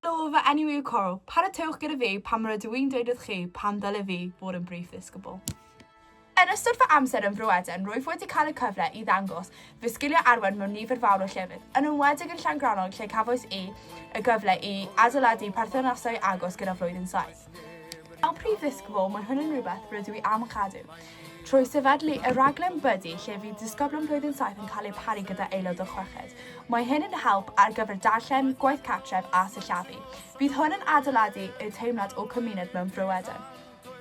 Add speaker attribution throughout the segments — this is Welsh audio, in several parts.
Speaker 1: Helo, fy enw yw Coral. Paratowch gyda fi pan rydw i'n dweud wrth chi pam ddylai fi fod yn Brif Ddisgybl. Yn ystod fy amser yn Bro Eden, rwyf wedi cael y cyfle i ddangos fy sgiliau arwain mewn nifer fawr o llefydd, yn enwedig yn Llangrannog lle cafwys i y gyfle i adeiladu perthnasau agos gyda Flwyddyn Saith. Fel Prif Ddisgybl, mae hwn yn rhywbeth rydw i am ei chadw, Trwy sefydlu y rhaglen Buddy lle fydd disgyblion blwyddyn saith yn cael eu paru gyda aelod o chweched. Mae hyn yn help ar gyfer darllen, gwaith cartref a sillafu. Bydd hwn yn adeiladu y teimlad o cymuned mewn Bro Eden.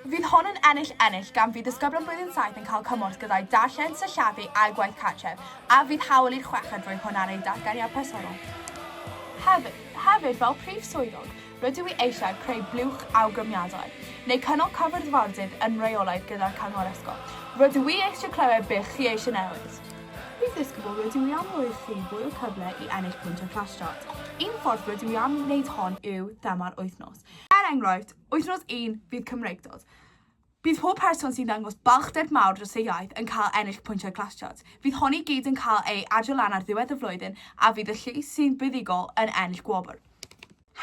Speaker 1: Fydd hwn yn ennill-ennill gan fydd disgyblion blwyddyn saith yn cael cymorth gyda'u darllen, sillafu a'u gwaith cartref, a fydd hawl i'r chweched roi hwn ar eu datganiad personol. Hefyd, fel Prif Swyddog, Rydw i eisiau creu blwch awgrymiadau, neu cynnal cyfarfodydd yn rheolaidd gyda'r Cyngor Ysgol. Rydw i eisiau clywed beth chi eisiau newid. Prif Ddisgybl, rydw i am roi i chi fwy o cyfle i ennill pwyntiau Flash Start. Un ffordd rydw i am wneud hon yw thema'r wythnos. Er enghraifft, Wythnos un fydd Cymreictod. Bydd pob person sy'n dangos balchder mawr dros ei iaith yn cael ennill pwyntiau Classcharts. Fydd hon i gyd yn cael ei adio lan ar ddiwedd y flwyddyn a fydd y llys sy'n fuddugol yn ennill gwobr.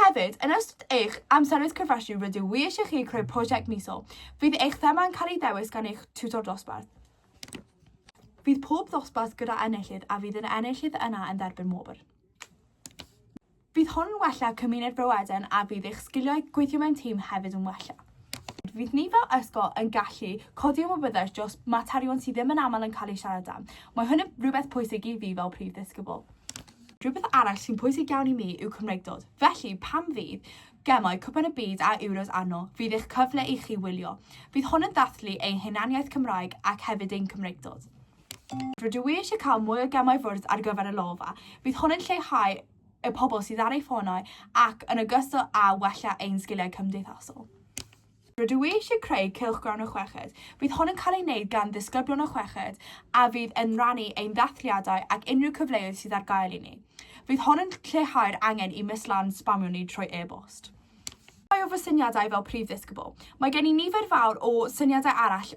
Speaker 1: Hefyd, yn ystod eich amseroedd cyfresi rydw i eisiau chi creu prosiect misol. Fydd eich thema yn cael ei ddewis gan eich tiwtor dosbarth. Bydd pob dosbarth gyda enillydd a fydd yr enillydd yna yn dderbyn wobr. Bydd hwn yn wella cymuned Bro Eden a bydd eich sgiliau gweithio mewn tîm hefyd yn wella. Fydd ni fel ysgol yn gallu codi ymwybyddiaeth dros materion sydd ddim yn aml yn cael eu siarad am. Mae hwn yn rhywbeth pwysig i fi fel prif ddisgybl. Rhywbeth arall sy'n pwysig iawn i mi yw Cymreictod, felly pan fydd Gemau Cwpan y Byd a Euros arno, fydd eich cyfle i chi wylio. Bydd hwn yn dathlu ein hunaniaeth Cymraeg ac hefyd ein Cymreictod. Rydw i eisiau cael mwy o gemau fwrdd ar gyfer y lofa. Bydd hwn yn lleihau y pobl sydd ar eu ffonau ac yn ogystal â wella ein sgiliau cymdeithasol. Rydw i eisiau creu cylchgrawn y chweched. Bydd hwn yn cael ei wneud gan ddisgyblion y chweched a fydd yn rhannu ein dathliadau ac unrhyw cyfleoedd sydd ar gael i ni. Bydd hwn yn lleihau'r angen i Miss Lan sbamio ni trwy e-bost. Rhai o fy syniadau fel prif ddisgybl. Mae gen i nifer fawr o syniadau arall